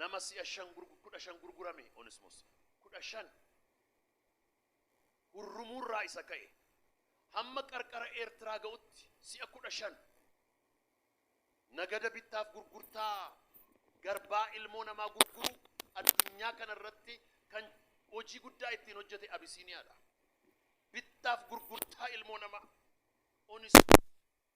nama si'a shan gurgu- kudha shan gurgurame onismos kudha shan Hurrumuurraa isa ka'e hamma qarqara Eertiraa ga'utti si'a 15 nagada bittaaf gurgurtaa garbaa ilmoo namaa gurguruu addunyaa kana irratti kan hojii guddaa ittiin hojjete Abisiiniyaadha. Bittaaf gurgurtaa ilmoo namaa onis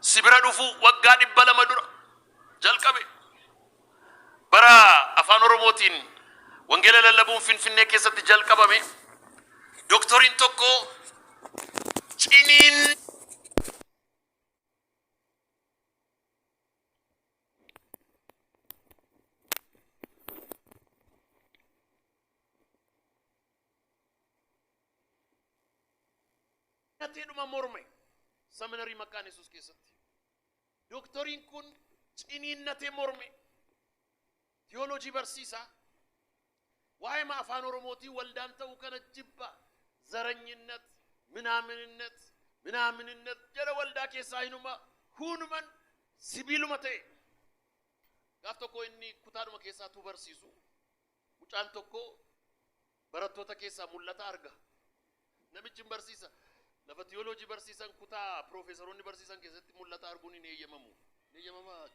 si bira dhufuu waggaa dhibba lama dura jalqabe. Bara Afaan Oromootiin wangeela lallabuun Finfinnee keessatti jalqabame doktoriin tokko ciniin Nyateedhuma morme Saminarii Maqaan Yesuus keessatti. Dooktoriin kun ciniinnatee morme. Tiyoolojii barsiisa. Waa'ee afaan Oromootii waldaan ta'uu kana jibba. Zaranyinnet, minaaminnet, minaaminnet jedha waldaa keessaa hinuma hunuman sibiiluma ta'e. Gaaf tokko inni kutaadhuma keessaa tuu barsiisu. Mucaan tokko barattoota keessaa mul'ata arga. Namichi hin barsiisa. Lafa tiyooloojii barsiisan kutaa piroofeesaroonni barsiisan keessatti mul'ata arguun hin eeyyamamu. Hin eeyyamamaa?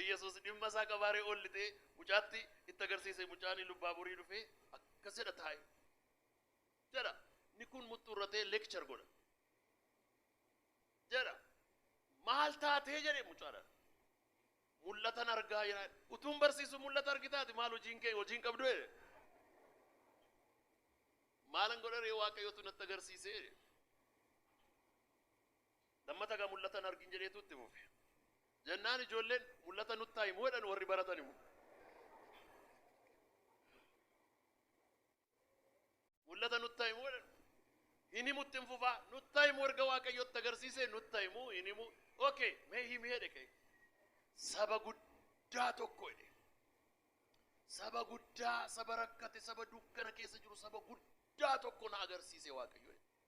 Iyyasuus dhimma isaa qabaaree ol lixee mucaatti itti agarsiise mucaan lubbaaborii dhufee akkas jedha taa'e. Jedha. Inni kun muxxuurratee leekchar godha. jedha. Maal taatee jedhe mucaadhaan. Mul'atan argaa jira. Utuun barsiisu mul'ata argitaati maal hojiin kee hojiin qabdu jedhe. Maalan godha ree waaqayyotu natti agarsiise jedhe. Lammata gaa mul'atan argin jedheetu itti fufe. Jennaan ijoolleen mul'ata nutti himu jedhan warri baratan immoo. Mul'ata nutta himuu jedhan. Hin himu itti hin fufaa. Nutta himu erga Waaqayyootti agarsiise nutta himu hin himu. Okay, mee himi jedhe ka'e. Saba guddaa tokko jedhe. Saba guddaa, saba rakkate, saba dukkana keessa jiru, saba guddaa tokko na agarsiise Waaqayyo jedhe.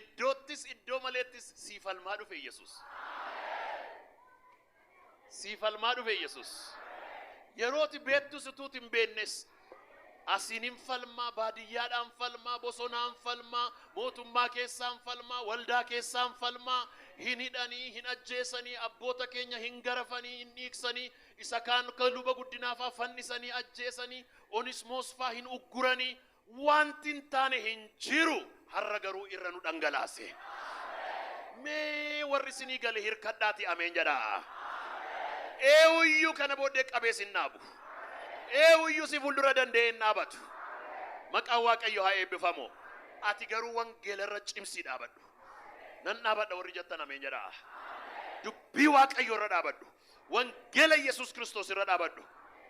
Iddoottis iddoo maleettis sii falmaa dhufe Yesus. Sii falmaa dhufe Yesus. Yerooti beettus utuuti hin beennes asiinin falmaa, baadiyyaadhaan falmaa, bosonaan falmaa, mootummaa keessaan falmaa, waldaa keessaan falmaa, hin hidhanii, hin ajjeesanii, abboota keenya hin garafanii, hin dhiiksanii, isa kaan kan luba guddinaafaa fannisanii ajjeesanii, Onismoos faa hin ugguranii waanti hin taane hin jiru harra garuu irra nu dhangalaase. Mee warri sinii gale hirkadhaati ameen jedhaa. Eewuyyuu kana booddee qabee sin dhaabu. Eewuyyuu si fuuldura danda'ee hin dhaabatu. Maqaan Waaqayyo haa eebbifamu. Ati garuu wangeela irra cimsii dhaabadhu. Nan dhaabadha warri jettan ameen jedhaa. Dubbii Waaqayyo irra dhaabadhu. Wangeela Yesuus Kiristoos irra dhaabadhu.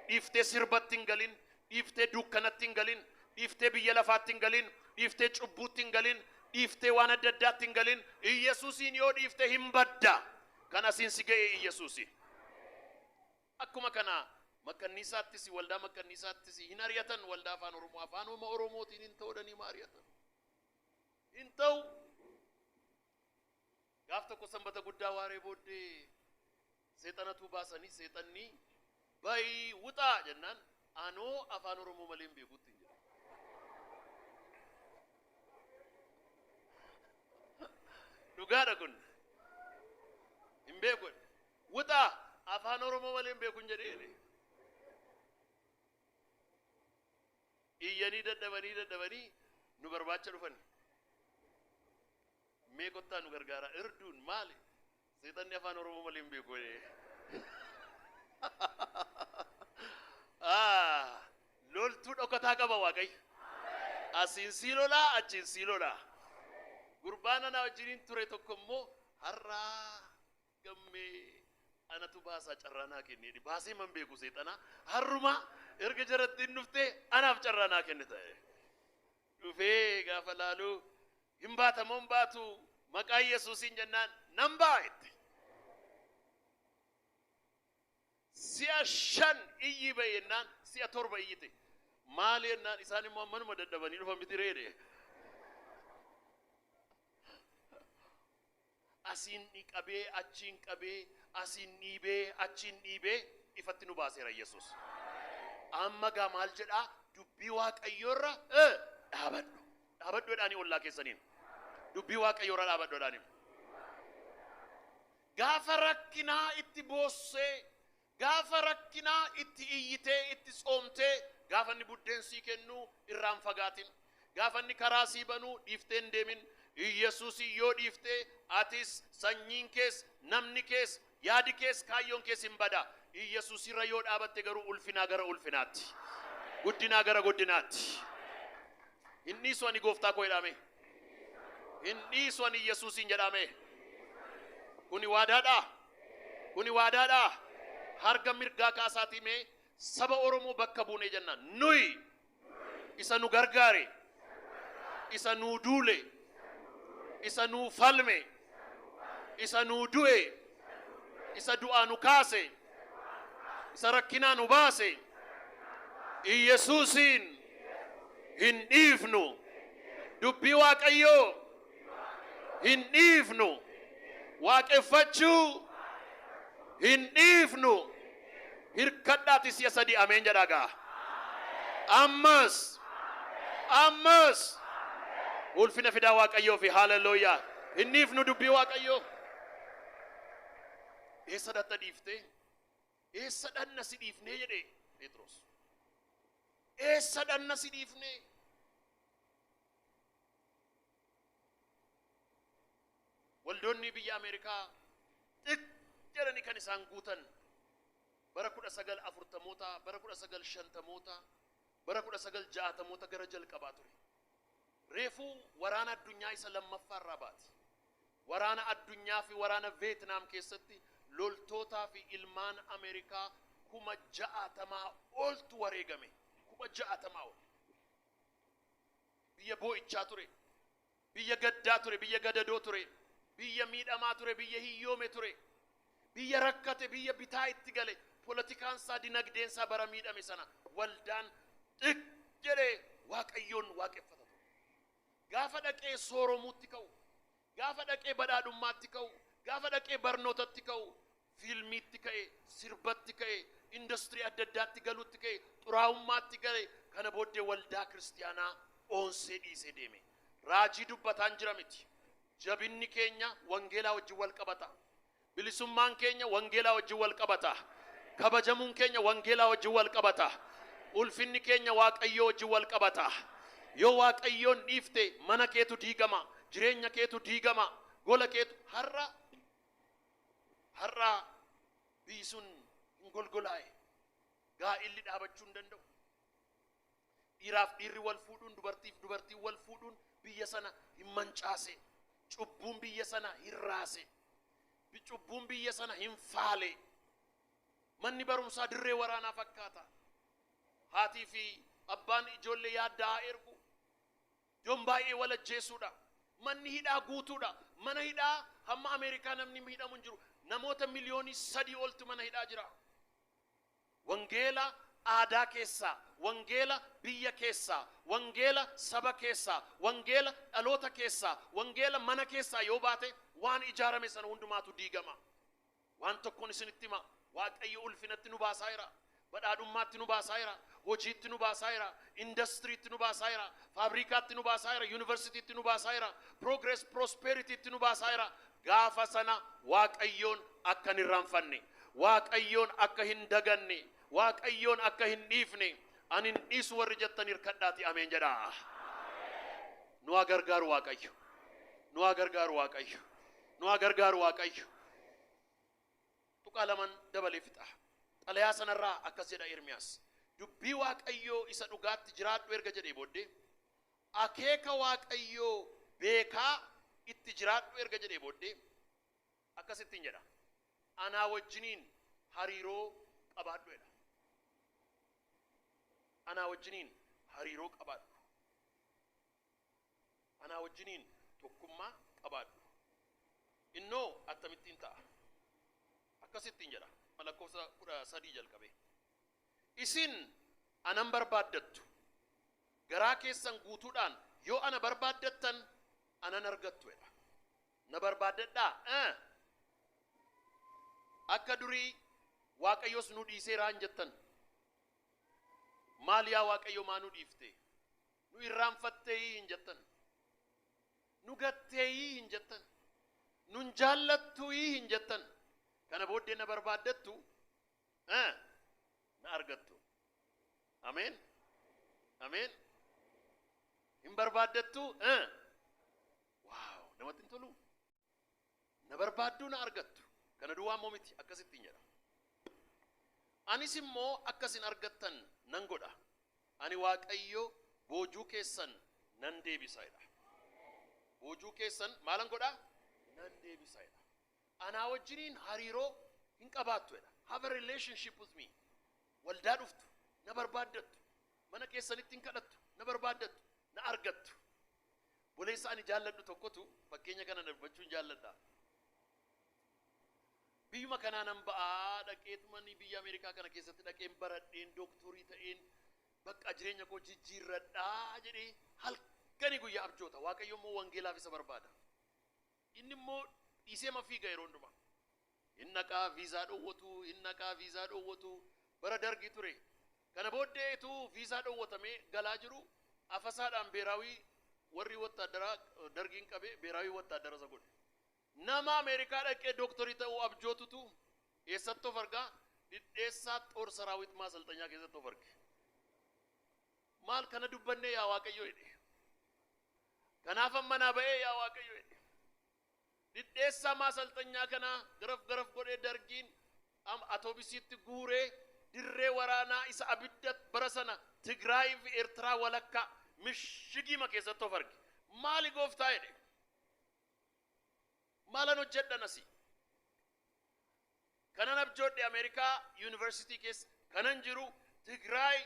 Dhiiftee sirbatti hin galin, dhiiftee dukkanatti hin galin, dhiiftee biyya lafaatti hin galin, dhiiftee cubbuutti hin galin, dhiiftee waan adda addaatti hin galin. Iyyasuusiin yoo dhiifte hin badda. Kan asiin si ga'e Iyyasuusi. Akkuma kana makkanniisaattis waldaa makkanniisaattis hin ari'atan waldaa afaan Oromoo afaanuma Oromootiin hin ta'udhanii ma ari'atan. Hin ta'u. Gaaf tokko Sanbata guddaa waaree booddee seexanatuu baasanii seexanni bayi wuxaa jennaan anoo afaan Oromoo malee hin beeku ittiin jedhe. Dhugaadha kun. Hin beeku. Wuxaa afaan Oromoo malee hin beeku hin jedhe jedhe. Iyyanii dadhabanii dadhabanii nu barbaacha dhufani. Mee kottaa nu gargaaraa. Irduun maali? Seexanni afaan Oromoo malee hin beeku jedhee. Ah, Loltuu dhokataa qaba Waaqayyo. Asiin sii lolaa, achiin sii lolaa. Gurbaan anaa wajjiniin ture tokko immoo har'aa gammee anatu baasaa carraa naa kenni jedhi baasee man beeku seexana harruma erga jarattiin dhufte anaaf carraa naa kenni ta'e dhufee gaafa laalu hin baatamoo hin baatu maqaa yesuusiin jennaan nan ba'a itti si'a shan iyyi ba'e jennaan si'a torba iyyite maali jennaan isaan immoo manuma dadhabanii dhufan miti reedhe Asiin dhiqabee, achiin qabee, asiin dhiibee, achiin dhiibee ifatti nu baaseera Yesuus. Amma gaa maal jedhaa? Dubbii Waaqayyoorra e, dhaabadhu. Dhaabadhu jedhaanii ollaa keessaniin. Dubbii Waaqayyoorra dhaabadhu jedhaanii. Gaafa rakkinaa itti boossee, Gaafa rakkinaa itti iyyitee, itti tsoomtee, gaafa inni buddeen sii kennu irraa hin fagaatin. Gaafa inni karaa sii banu dhiiftee hin deemin. Iyyasuusiin yoo dhiifte atis, sanyiin kees, namni kees, yaadi kees, kaayyoon kees hin bada. Iyyasuusirra yoo dhaabatte garuu ulfinaa gara ulfinaatti. Guddinaa gara guddinaatti. Hin dhiisu ani gooftaa koo jedhaamee. Hin dhiisu ani Yesuusiin jedhaame. Kuni waadaadha. Kuni waadaadha. Harga mirgaa kaasaatii mee saba Oromoo bakka buunee jenna. Nuyi isa nu gargaare, isa nuu duule, isa nuu falme, Isa nuu du'e, isa du'aa nu kaase, isa rakkinaa nu baase, Iyyesuusiin hin dhiifnu. Dubbii Waaqayyoo hin dhiifnu. Waaqeffachuu hin dhiifnu. Hirkadhaati si'a sadii ameen jedhaa gaa. Ammas. Ammas. Ulfina fidaa Waaqayyoo fi haalelooyaa. Hin dhiifnu dubbii Waaqayyoo. Eessa dhatta dhiiftee? Eessa dhanna si dhiifnee jedhe Phexros. Eessa dhanna si dhiifnee? Waldoonnii biyya Ameerikaa xiq jedhanii kan isaan guutan bara 1940moota, bara 1950moota, bara 1960moota gara jalqabaa ture. Reefuu waraana addunyaa isa lammaffaa irraa baati. Waraana addunyaa fi waraana Veetnaam keessatti loltootaa fi ilmaan Ameerikaa kuma ja'atamaa oltu wareegame. Kuma ja'atamaa ol. Biyya boo'ichaa ture, biyya gaddaa ture, biyya gadadoo ture, biyya miidhamaa ture, biyya hiyyoome ture, biyya rakkate, biyya bitaa itti gale, polotikaan isaa, dinagdeen isaa bara miidhame sana waldaan xiq jedhee Waaqayyoon waaqeffata ture. Gaafa dhaqee sooromuutti ka'u, gaafa dhaqee badhaadhummaatti ka'u, gaafa dhaqee barnootatti ka'u, Fiilmiitti ka'e, sirbatti ka'e, industirii adda addaatti galuutti ka'e, xuraa'ummaatti gale, kana booddee waldaa kiristiyaanaa oonsee dhiisee deeme. Raajii dubbataan jira miti. Jabinni keenya wangeelaa wajjin wal qabata. Bilisummaan keenya wangeelaa wajjin wal qabata. Kabajamuun keenya wangeelaa wajjin wal qabata. Ulfinni keenya Waaqayyoo wajjin wal qabata. Yoo Waaqayyoon dhiifte mana keetu diigama, jireenya keetu diigama, gola keetu har'a Har'a biyyi sun hin golgolaa'e. Gaa'illi dhaabachuu hin danda'u. Dhiiraaf dhiirri wal fuudhuun, dubartiif dubartiin wal fuudhuun biyya sana hin mancaase. Cubbuun biyya sana hin raase. Bi- Cubbuun biyya sana hin faale. Manni barumsaa dirree waraanaa fakkaata. Haatii fi abbaan ijoollee yaaddaa'aa ergu. Jon baay'ee wal ajjeessuudha. Manni hidhaa guutuudha. Mana hidhaa hamma Ameerikaa namni miidhamu hin jiru. Namoota miliyoonii sadii oltu mana hidhaa jira. Wangeela aadaa keessaa, wangeela biyya keessaa, wangeela saba keessaa, wangeela dhaloota keessaa, wangeela mana keessaa yoo baate waan ijaarame sana hundumaatu diigama. Waan tokkon isinitti hima, Waaqayyo ulfinatti nu baasaa jira, badhaadhummaatti nu baasaa jira, hojiitti nu baasaa jira, indastiriitti nu baasaa jira, faabriikaatti nu baasaa jira, yuunivarsiitiitti nu baasaa jira, progress prosperitiitti nu baasaa jira. Gaafa sana Waaqayyoon akka hin irraanfanne, Waaqayyoon akka hin daganne, Waaqayyoon akka hin dhiifne, ani hin dhiisu warri jettan hirkadhaatii ameen jedhaa. Nu haa gargaaru Waaqayyo. Nu haa gargaaru Waaqayyo. Nu haa gargaaru Waaqayyo. Tuqaa laman dabalee fixa. Xalayaa sanarraa akkas jedha Ermiyaas. Dubbii Waaqayyoo isa dhugaatti jiraadhu erga jedhee booddee, akeeka Waaqayyoo beekaa itti jiraadhu erga jedhee booddee, akkas ittiin jedha. Anaa wajjiniin hariiroo qabaadhu jedha. Anaa wajjiniin hariiroo qabaadhu. Anaa wajjiniin tokkummaa qabaadhu. Innoo attamittiin ta'a? Akkas ittiin jedha, ma lakkoofsa 13 jalqabee. Isin ana hin barbaaddattu. Garaa keessan guutuudhaan yoo ana barbaaddattan ana hin argattu jedha. Na barbaaddadhaa? Ee. Akka durii Waaqayyos nu dhiiseeraa hin jettan. Maal yaa Waaqayyo maa nu dhiifte? Nu irraanfatteeyii hin jettan. Nu gatteeyii hin jettan. Nun jaallattuuyii hin jettan. Kana booddee na barbaaddattu eh, na argattu. Ameen. Ameen. Hin barbaaddattu eh. Waaw namatti hin toluu. Na barbaadduu na argattu. Kana duwwaa immoo miti, akkas ittiin jedha. Anis immoo akka isin argattan nan godha. Ani Waaqayyo boojuu keessan nan deebisa jedha. Boojuu keessan maalan godha? Nan deebisa jedha. Anaa wajjiniin hariiroo hin qabaattu jedha. Have a relationship with me. Waldaa dhuftu, na barbaaddattu. Mana keessanitti hin kadhattu, na barbaaddattu, na argattu. Obboleessa ani jaalladhu tokkotu fakkeenya kana na dubbachuun jaalladha. Biyyuma kanaa nan ba'aa dhaqeetumani biyya Ameerikaa kana keessatti dhaqeen baradheen dooktorii ta'een bakka jireenya koo jijjiirradhaa jedhee halkanii guyyaa abjoota. Waaqayyo immoo wangeelaaf isa barbaada. Inni immoo dhiiseema fiiga yeroo hundumaa. Hin dhaqaa viizaa dhowwatu hin dhaqaa viizaa dhowwatu bara dargii ture kana booddee ituu viizaa dhowwatamee galaa jiru afasaadhaan beeraawii warri wattaaddaraa dargiin qabe beeraawii wattaaddara isa godhe nama ameerikaa dhaqee dooktorii ta'uu abjootutu eessatti of argaa dhidheessaa xoor saraawit maasalxanyaa keessatti of arge maal kana dubbannee yaa waaqayyoo jedhe Kanaafan manaa ba'ee yaa Waaqayyo jedhe. Dhidheessaa maasalxanyaa kana garaf garaf godhee Dargiin am- atoobisiitti guuree dirree waraanaa isa abidda bara sana Tigraayii fi Eertiraa walakkaa mishigiima keessatti of arge. Maali gooftaa jedhe. Maalan hojjedhan asii? Kanan abjoodhe Ameerikaa yuunivarsiitii keessa kanan jiru Tigraay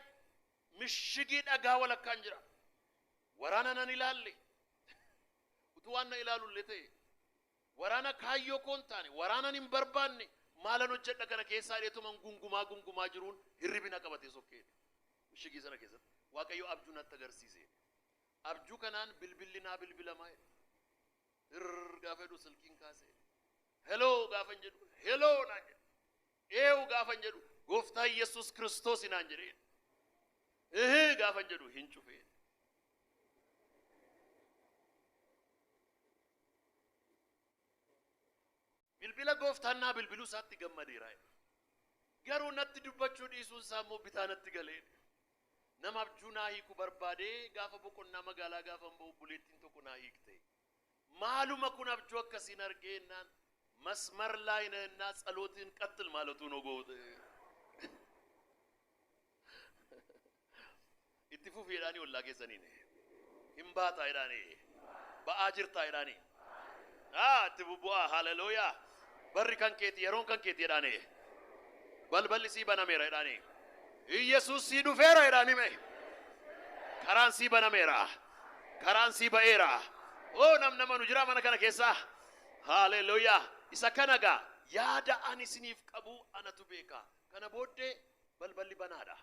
Mishigii dhagaa walakkaan jira. Waraana nan ilaalle. Utuu waan na ilaalu illee ta'e waraana kaayyoo koo hin taane, waraanan hin barbaanne maalan hojjedha kana keessaa jedheetuman gungumaa gungumaa jiruun hirribi na qabatee sokkee jedhe. Mishigii sana keessatti Waaqayyo abjuu natti agarsiise jedhe. Abjuu kanaan bilbilli naa bilbilamaa jedhe. Hirr gaafa jedhu silkiin kaasee heloo gaafan jedhu heloo naan jedhe. Eewu gaafan jedhu gooftaa Yesuus Kiristoosi naan jedheen. Ehe gaafan jedhu hin cufeen. Bilbila gooftaan naa bilbiluu isaatti gammadeera. Garuu natti dubbachuu dhiisuun isaa immoo bitaa natti galee. Nama abjuu naa hiiku barbaadee gaafa boqonnaa magaalaa gaafan ba'u buleettiin tokko naa hiikte. Maaluma kun abjuu akkasiin argee ennaan masmar laay na ennaa tsalootiin qatl maalatuu no goowte itti fufi jedhaanii ollaa keessaniin hin baataa jedhaanii ba'aa jirtaa jedhaanii aa itti bubbu'aa haleluuyaa barri kan keeti yeroon kan keeti jedhaanii balballi sii banameera jedhaanii Iyyesuus sii dhufeera jedhaanii mee. Karaan sii banameera. Karaan sii ba'eera. Oo namni amanu jiraa mana kana keessa? Haaleluyyaa. Isa kana gaa yaada ani isiniif qabu anatu beeka. Kana booddee balballi banaadha.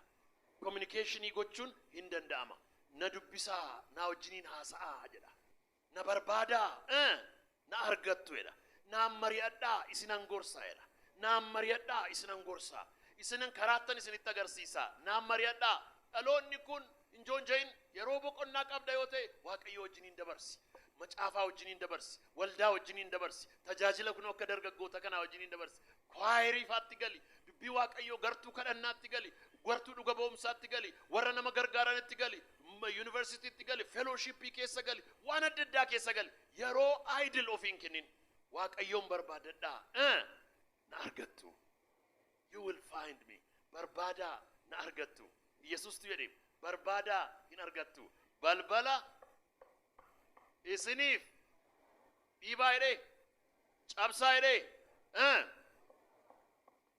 Kominikeeshinii gochuun hin danda'ama. Na dubbisaa, naa wajjiniin haasa'aa jedha. Na barbaadaa, eh, na argattu jedha. Naan mari'adhaa, isinan gorsa jedha. Naan mari'adhaa, isinan gorsa. Isinan karaattan isinitti agarsiisa. Naan mari'adhaa. Dhaloonni kun hin joonja'in. Yeroo boqonnaa qabda yoo ta'e Waaqayyoo wajjiniin dabarsi. Macaafaa wajjiniin dabarsi. Waldaa wajjiniin dabarsi. Tajaajila kunoo akka dargaggoota kanaa wajjiniin dabarsi. Kwaayerii faatti gali. Dubbii Waaqayyoo gartuu kadhannaatti gali. Gartuu dhuga ba'umsaatti gali. Warra nama gargaaranitti gali. Yunivarsitiitti gali, fellowship keessa gali, waan adda addaa keessa gali. Yeroo idle ofii hin kennin. Waaqayyoon barbaadadhaa. Eh! Na argattu. You will find me. Barbaadaa na argattu. Yesuustu jedhe barbaadaa hin argattu. Balbala isiniif dhiibaa jedhee cabsaa jedhee eh!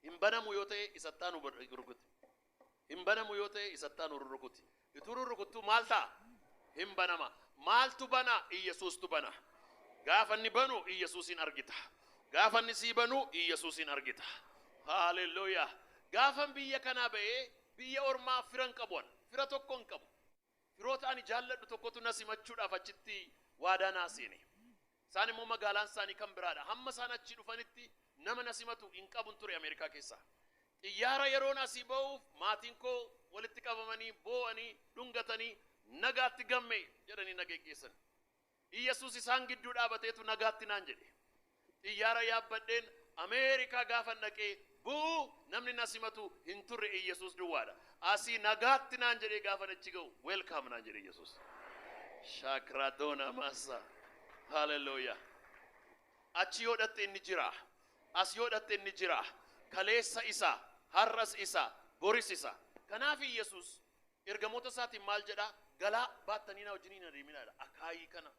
hin banamu yoo ta'e isattaan rukuti. Hin banamu yoo ta'e isatti aanu rurrukuti. Ituu rurrukuttuu maal ta'a? Hin banama. Maaltu bana? Iyyasuustu bana. Gaafa inni banu Iyyasuusiin argita. Gaafa inni sii banu Iyyasuusiin argita. Haalelluuyaa! Gaafan biyya kanaa ba'ee biyya ormaa fira hin qabu an. Fira tokko hin qabu. Firoota ani jaalladhu tokkotu na simachuudhaaf achitti waadaa naa seene. Isaan immoo magaalaan isaanii kan biraa dha. Hamma isaan achii dhufanitti nama na simatu hin qabun ture Ameerikaa keessa. Xiyyaara yeroon asii ba'uuf maatiin koo walitti qabamanii boo'anii dhungatanii nagaatti gamme jedhanii na geggeessan. Iyyasuus isaan gidduu dhaabateetu nagaatti naan jedhe. Xiyyaara yaabbadheen Ameerikaa gaafan dhaqee bu'u namni na simatu hin turre Iyyasuus duwwaadha. Asii nagaatti naan jedhee gaafan achi ga'u Welcome naan jedhe Iyyasuus. Shaakradoona maassa. Hallelujah. Achi yoo dhatte inni jira. As yoo dhatte inni jira. Kaleessa isa, har'as isa, boris isa. Kanaaf Iyyasuus Ergamoota isaatiin maal jedha? Galaa baattanii na wajjin hin adeeminaa jedha. Akaayii kana,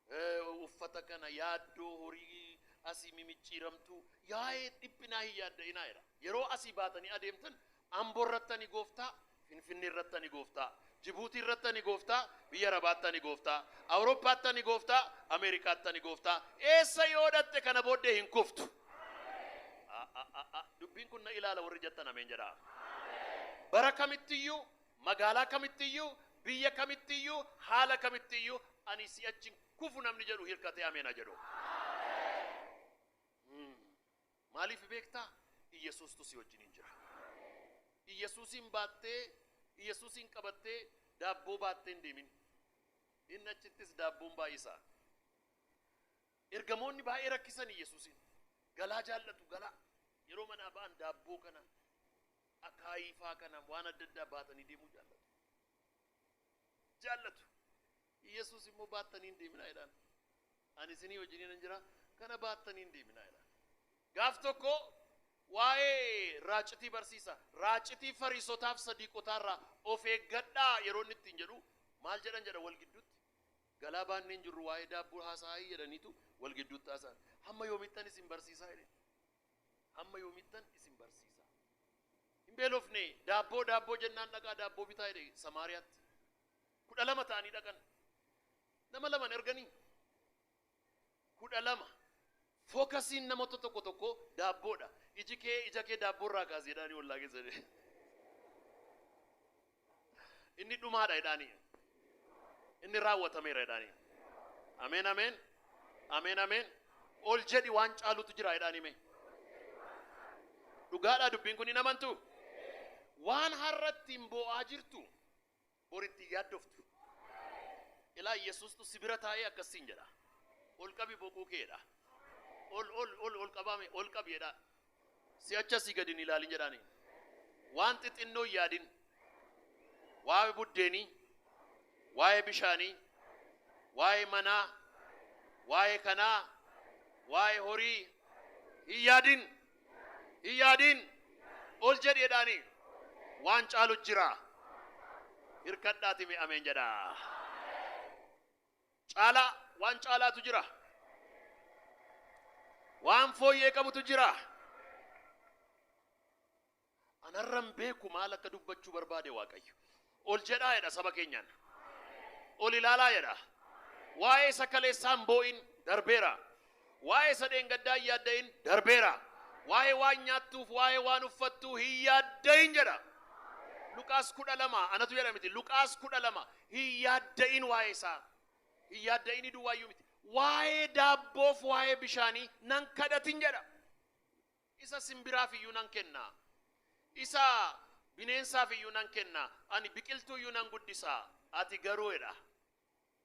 eh, uffata kana, yaaddoo horii asii mimicciiramtuu, yaa'ee dhiphinaa hin yaadda'inaa jedha. Yeroo asii baatanii adeemtan Ambo irratti ani gooftaa, Finfinnee irratti ani gooftaa, Jibuutii irratti ani gooftaa, biyya Arabaatti ani gooftaa, Awurooppaatti ani gooftaa, Ameerikaatti ani gooftaa, eessa yoo dhaqxe kana booddee hin kuftu. A, a, a, a. Dubbiin kun na ilaala warri jettan ameen jedhaa. Bara kamittiyyuu, magaalaa kamittiyyuu, biyya kamittiyyuu, haala kamittiyyuu ani si'achi hin kufu namni jedhu hirkatee ameen haa jedhu. Mm. Maaliif beektaa? Iyyasuustu si wajjiniin jira. Iyyasuusiin baattee, Iyyasuusiin qabattee daabboo baattee hin deemin. Inni achittis daabboon baay'isa. Ergamoonni baay'ee rakkisanii Yesuusiin, Galaa jaallatu galaa! Yeroo manaa ba'an daabboo kana, akaayii faa kana waan adda addaa baatanii deemuu jaallatu. Jaallatu. Yesuus immoo baattanii hin deeminaa jedhaan. Ani isinii wajjiniinan jira, kana baattanii hin deeminaa jedhaan. Gaaf tokko waa'ee raacitii barsiisa. Raacitii Fariisotaaf Sadiiqotaarraa of eeggadhaa yeroo inni ittiin jedhu maal jedhan jedha wal gidduutti? Galaa baannee hin jirru waa'ee daabboo haasa'aa'i jedhaniitu wal gidduutti haasa'an. Hamma yoomittan isin barsiisaa jedheen. Hamma yoomittan isin barsiisaa? Hin beelofne daabboo daabboo jennaan dhaqaa daabboo bitaa jedhe Samaariyaatti. Kudha lama ta'anii dhaqan. Nama laman erganii 12, Fookasiin namoota tokko tokkoo daabboodha. Iji kee ija kee daabboorraa kaasi jedhaanii ollaa keessanii. Inni dhumaadha jedhaanii. Inni raawwatameera jedhaanii. Ameen ameen. Ameen ameen. Ol jedhi waan caalutu jira jedhaanii mee. Dhugaadhaa dubbiin kun hin amantu. Waan har'attiin boo'aa jirtu Bor itti hin yaaddoftu. Ilaa Yesuustu si bira taa'ee akkas siin jedha. Ol qabi boquu kee jedha. Ol ol ol ol qabaa mee ol qabi jedha. Si'achi asii gadi hin ilaalin jedhaani. Waan xixinnoo hin yaadin. Waa'ee buddeenii, waa'ee bishaanii, waa'ee manaa, waa'ee kanaa, waa'ee horii hin yaadin. Hin yaadiin ol jedhi jedhaanii waan caalu jira hirkadhaati mee ameen jedha. Caalaa waan caalaatu jira. Waan fooyyee qabutu jira. Anarran beeku maal akka dubbachuu barbaade Waaqayyo. Ol jedhaa jedha saba keenyaan. Ol ilaalaa jedha. Waa'ee isa kaleessaa hin boo'in darbeera. Waa'ee isa dheengaddaa hin yaadda'in darbeera. Waa'ee waan nyaattuuf waa'ee waan uffattuu hin yaadda'in jedha. Luqaas kudha lama anatu jedha miti Luqaas kudha lama hin yaadda'in waa'ee isaa. Hin yaadda'inii duwwaayyuu miti. Waa'ee daabboof waa'ee bishaanii nan kadhatin jedha. Isa simbiraaf iyyuu nan kenna, isa bineensaaf iyyuu nan kenna, ani biqiltuu iyyuu nan guddisa, ati garuu jedha,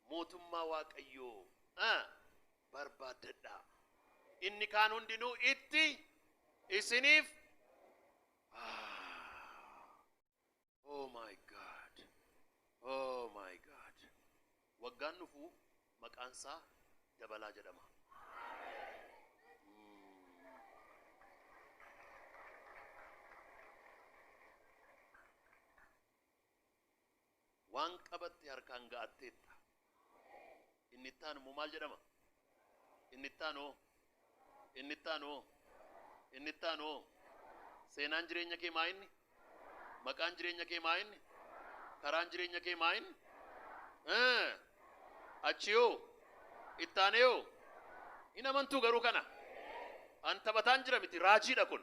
mootummaa Waaqayyoo barbaaddadhaa, inni kaan hundinuu itti isiniif. Oh my God. Oh my God. Waggaan dhufu maqaan isaa dabalaa jedhama. Waan qabatte harkaan ga'atteetta. Inni itti aanu immoo maal jedhama? Inni itti aanu hoo? Inni itti aanu hoo? Inni itti aanu hoo? Seenaan jireenya kee maa inni? Maqaan jireenya kee maa inni? Karaan jireenya kee maa inni? Eh, Achi hoo? Itti aanee hoo? Hin amantuu garuu kana? An taphataan jira miti, raajiidha kun.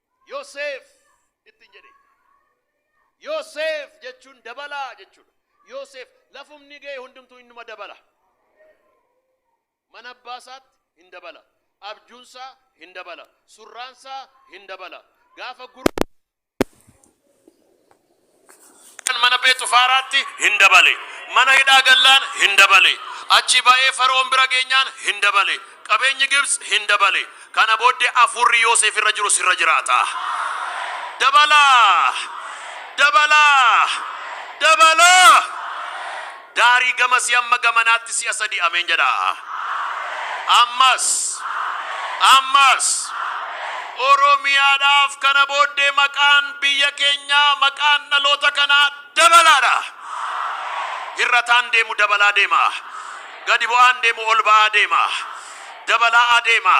Yoseef ittiin jedhe. Yoseef jechuun dabalaa jechuudha. Yoseef lafumni ga'e hundumtuu innuma dabala. Mana abbaa isaatti hin dabala. Abjuun isaa hin dabala. Surraan isaa hin dabala. Gaafa gurguru mana Phexifaaraatti hin dabale. Mana hidhaa gallaan hin dabale. Achii ba'ee Fara'oon bira geenyaan hin dabale. Qabeenyi Gibtsi hin dabale. Kana booddee Hafuurri Yooseef irra jiru sirra jiraata. Dabalaa! Dabalaa! Dabalaa! Daarii gamasii amma gamanaatti si'a sadii Ameen jedhaa. Ammas. Ammas. Oromiyaadhaaf kana booddee maqaan biyya keenyaa maqaan dhaloota kanaa dabalaadha. Hir'ataan deemu dabalaa deema. Gadi bu'aan deemu ol ba'aa deema. Dabalaa adeema.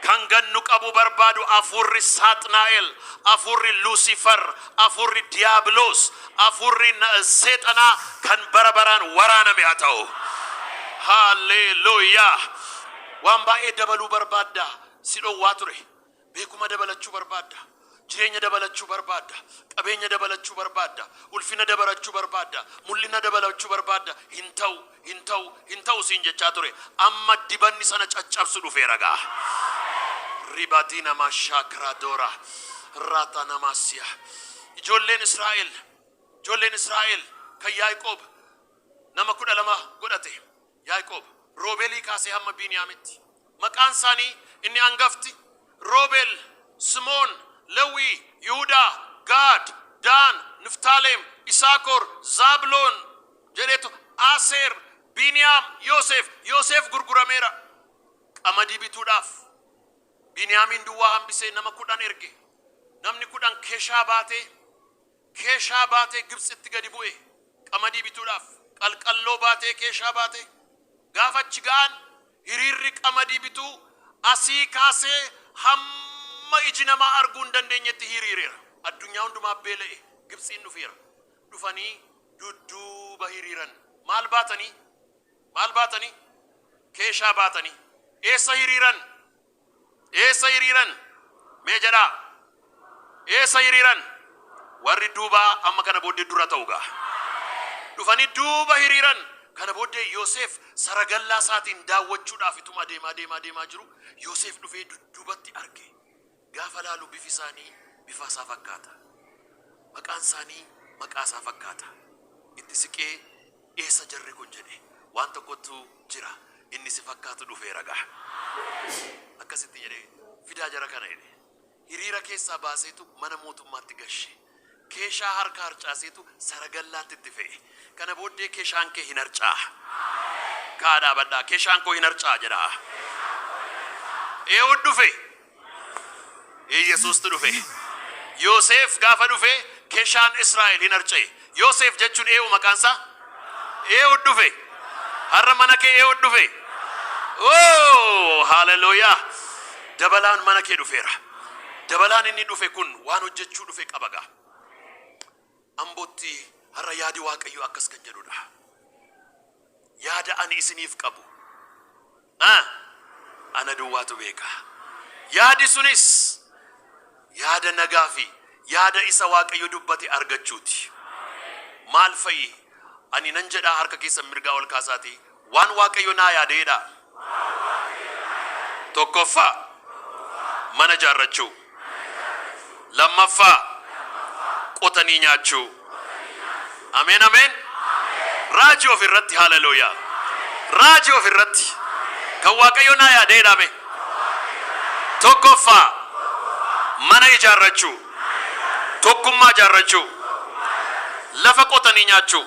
Kan gannu qabu barbaadu afuurri Saaxnaa'el, afuurri Luusifar, Afuurri Diyaabiloos, afuurri Seexanaa kan bara baraan waraaname haa ta'u. Haalleeluuyaa! Waan baay'ee dabaluu barbaadda, si dhowwaa ture. Beekuma dabalachuu barbaadda, jireenya dabalachuu barbaadda, qabeenya dabalachuu barbaadda, ulfina dabalachuu barbaadda, mul'ina dabalachuu barbaadda, hin ta'u. Hin ta'u, hin ta'u siin jechaa ture. Amma dibanni sana caccabsu dhufeera gaa. Ribadii namaa shaakraa doora. Raataa namaa siya. Ijoolleen Israa'el, ijoolleen Israa'el kan Yaaqoob nama kudha lama godhate. Yaaqoob Roobeelii kaasee hamma Biiniyaamitti. Maqaan isaanii inni angafti, Roobeel, Simoon, Lewwii, Yihudaa, Gaad, Daan, Niftaaleem, Isaakor, Zaabiloon, jedheetu, Aseer, Biiniyaam, Yooseef, Yooseef gurgurameera qamadii bituudhaaf, Biiniyaamiin duwwaa hambisee nama kudhan erge, namni kudhan keshaa baatee Keeshaa baatee Gibtsitti gadi bu'e, qamadii bituudhaaf qalqalloo baatee keeshaa baate. Gaafa achi ga'an hiriirri qamadii bituu asii kaasee hamma iji namaa arguu hin dandeenyetti hiiriireera. Addunyaa hundumaa beela'e Gibtsiin dhufeera. Dhufanii dudduuba hiriiran. Maal baatanii? Maal baatanii? Keeshaa baatanii. Eessa hiriiran? Eessa hiriiran? Mee jedhaa. Eessa hiriiran? Warri duubaa amma kana booddee dura ta'u gaa. Dhufanii duuba hiriiran. Kana booddee Yoseef saragallaa isaatiin daawwachuudhaaf ituma adeemaa deemaa deemaa jiru Yoseef dhufee dudduubatti arge. Gaafa laalu bifi isaanii bifa isaa fakkaata. Maqaan isaanii maqaa isaa fakkaata. Itti siqee Eessa jarri kun jedhe. Waan tokkottu jira. Inni si fakkaatu dhufeera ga'a. Akkasitti jedhee, Fidaa jara kana jedhe. Hiriira keessaa baaseetu mana mootummaatti gashe. Keeshaa harka harcaaseetu saragallaatti itti fe'e. Kana booddee keshaan kee hin harcaa'a. Ka'aa dhaabadhaa, Keshaan koo hin harcaa'a jedhaa. Eehuud dhufe. Yesuustu dhufe. Yooseef gaafa dhufe keshaan Israa'el hin harca'e. Yooseef jechuun eewu maqaan isaa eewu dhufe. Har'a mana kee eewu dhufe. Oo haleluuyaa! Dabalaan mana kee dhufeera. Dabalaan inni dhufe kun waan hojjechuu dhufe qaba gaa. Ambootti har'a yaadi Waaqayyoo akkas kan jedhu dha. Yaada ani isiniif qabu a ana duwwaatu beeka. Yaadi sunis yaada nagaa fi yaada isa Waaqayyo dubbate argachuuti. Maal fa'i? Ani nan jedhaa harka keessan mirgaa ol kaasaatii Waan Waaqayyo naa yaadee dha. Tokkoffaa, mana ijaarrachuu. Lammaffaa, qotanii nyaachuu. Ameen ameen. Raaji of irratti haalelooyaa. Raaji of irratti. Kan Waaqayyo naa yaadee dha mee. Tokkoffaa, mana ijaarrachuu. Tokkummaa ijaarrachuu. Lafa qotanii nyaachuu.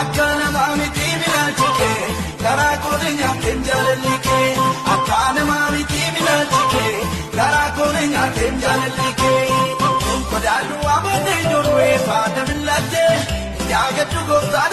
Akkaa namaa mitii bilaalchi kee garaa koo na nyaateen jaalalli kee Akkaa namaa mitii bilaalchi kee garaa koo na nyaateen jaalalli kee Godaannu waa baatee ijoollee faana millattee yaa gaddu gooftaan.